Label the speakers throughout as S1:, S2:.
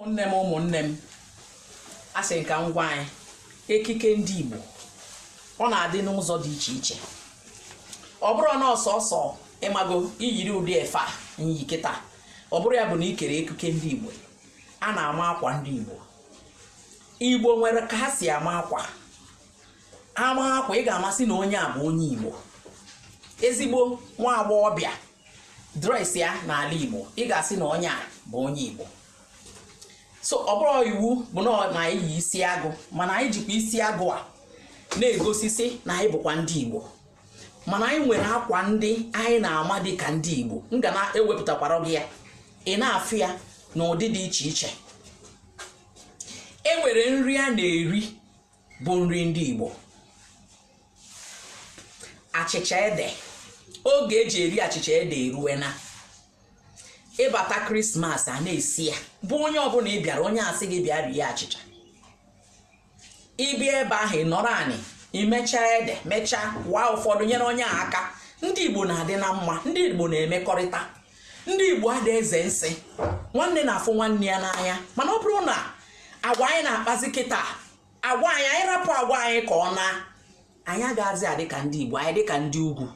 S1: ụmụnne m ụmụnne m asị m ka m gwa anyị ekike ndị Igbo ọ na-adị n'ụzọ dị iche iche ọ bụrọ na ọ sọsọ ị mago iyiri ụdị efe a m yi kịta ọ bụrụ ya bụ na i kere ekike ndị Igbo a na-ama akwa ndị Igbo Igbo nwere ka ha si ama akwa ama akwa ị ga-amasị na onye a bụ onye Igbo ezigbo nwa agbọghọ bịa dresịa n'ala Igbo ị ga-asị na onye a bụ onye Igbo so ọ bụrọ iwu bụ na ọ- na anyị yi isi agụ mana anyị jikwa isi agụ a na-egosisi na anyị bụkwa ndị igbo mana anyị nwere akwa ndị anyị na-ama dị ka ndị igbo m ga na-ewepụtakwara gị ya ị na-afụ ya n'ụdị dị iche iche e nwere nri a na-eri bụ nri ndị Igbo achịcha ede oge eji eri achịcha ede eruwena ị bata krismas a na-esi ya bụ onye ọbụna ị bịara onye a sị gị bịa rie achịcha ị bịa ebe ahụ ị nọrọ anị i mechaa ede mechaa waa ụfọdụ nyere onye a aka ndị Igbo na-adị na mma ndị Igbo na-emekọrịta ndị igbo ada eze nsị nwanne na-afụ nwanne ya n'anya mana ọ bụrụ na agwa anyị na-akpazi kịta agwa anyị anyị rapụ agwa anyị ka ọ na anyị agaghịzi adị ka ndị igbo anyị dị ka ndị ugwu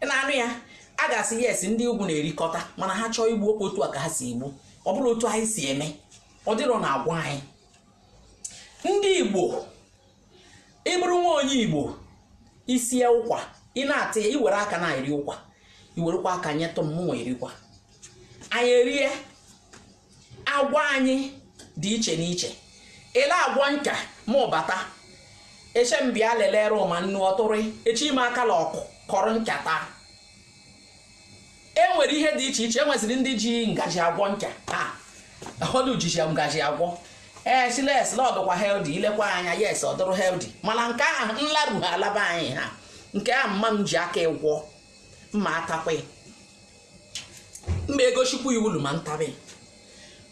S1: na-anụ ya a ga-asị yes ndị ugwu na-erikọta mana ha chọọ igbu ọ kwa otu a ka ha si egbu ọ bụrọ otu anyị si eme ọ dịrọ na agwa anyị ndị igbo ị bụrụ nwa onye igbo i sie ụkwa ị na-atị ya i were aka na-eri ụkwa i werekwa aka nyetụ m mụnwa erikwa anyị erie agwa anyị dị iche n'iche ele agwa nka ma ụbata eche m bịa lelere ụma nnu ọtụrị echi ime akala ọkụ kọrọ nkata e nwere ihe dị iche iche e nweziri ndị ji ngaji agwọ ncha ha ọdụ ji ngaji agwọ ee eh, sị na ọ dụkwa healthy i lekwa anya yes ọ dụrụ healthy mana nke a nlaru ha alaba anyị ha nke a mma m ji aka ịgwọ mma atakwa mma egosikwa iwulu ma ntabi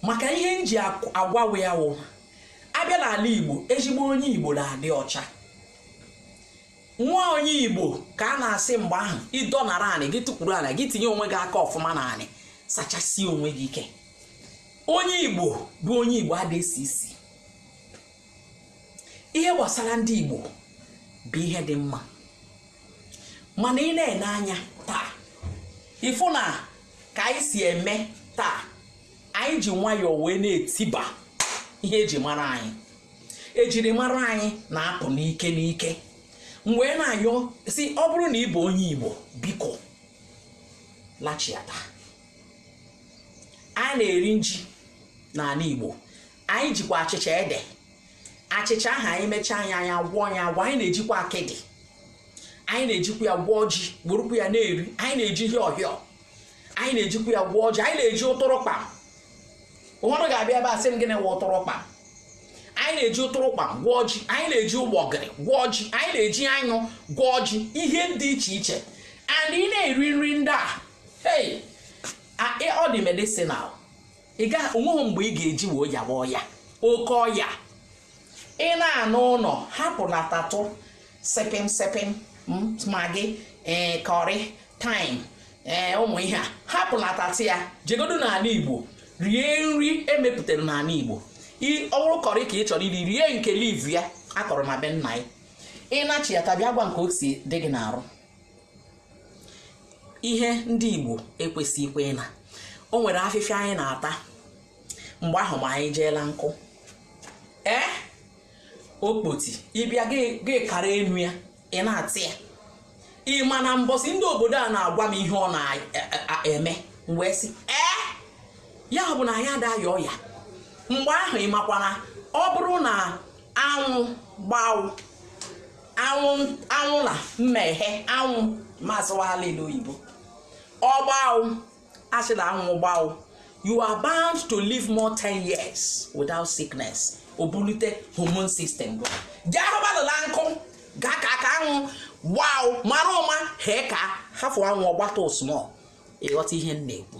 S1: maka ihe m ji agwawe ya wụ a bịa n'ala igbo ezigbo onye igbo na-adị ọcha Nwa onye Igbo ka a na-asị mgbe ahụ ị dọnara anị gị tukwuru anị gị tinye onwe gị aka ọfụma na anị sachasie onwe gị ike onye Igbo bụ onye Igbo ada esi isi ihe gbasara ndị Igbo bụ ihe dị mma mana ị na-ene anya taa ị fụ na ka anyị si eme taa anyị ji nwayọọ wee na-etiba ihe eji mara anyị ejirimara anyị na-apụ n'ike n'ike m wee na-ayọ sị ọ bụrụ na ị bụ onye igbo biko lachiata anyị na-eri nji n'ala igbo anyị jikwa achịcha ede achịcha ahụ anyị mechaa ya anyị agwọọ ya agwọ anyị na-ejikwa akịdị anyị na-ejikwa ya gwọọ ji werukwa ya na-eri anyị na-eji hịọ hịọ anyị na-ejikwa ya gwọọ ji anyị na-eji ụtụrụkpa ụfọdụ ga-abịa ebe a sị m gịnị wụ ụtụrụkpa anyị na-eji ụtụrụkpa gwọọ ji anyị na-eji ụgbọgịrị gwọọ ji anyị na-eji anyụ gwọọ ji ihe dị iche iche and ị na-eri nri ndị a hey ọ dị medicinal ị gaghị o nweghị mgbe ị ga-eji wee yawa ọya oke ọya ị na-anụ unu hapụlatatụ sepịm sepịm maggi ee curry thyme ee ụmụ ihe a hapụlatatụ ya jegodu n'ala igbo rie nri e mepụtara n'ala igbo ọ bụrụ curry ka ị chọrọ iri rie nke leaf ya a kọrọ na be nna gị ị nachiata bịa gwa m ke o si dị gị n'arụ ihe ndị igbo ekwesịghịkwa ịna o nwere afịfịa anyị na-ata mgbe ahụ ma anyị jeela nkụ ee okpoti ị bịa gị kara enu ya ị na-ata ya ị ma na mbọsị ndị obodo a na-agwa m ihe ọ na-eme m wee sị ee ya bụ na anyị adaghị aya ọya mgbe ahụ ị makwa na ọ bụrụ na anwụ gbaụ anwụ na mmeghe anwụ mazụwala ndị oyibo ọ gbaụ a sị na anwụ gbaụ you are bound to live more 10 years without sickness o bulite hormone system bụ jee hụbalụla nkụ gaa ka aka anwụ gbaụ mara ụma hee ka hafụ anwụ ọ gbata small ị ghọta ihe m na-ekwu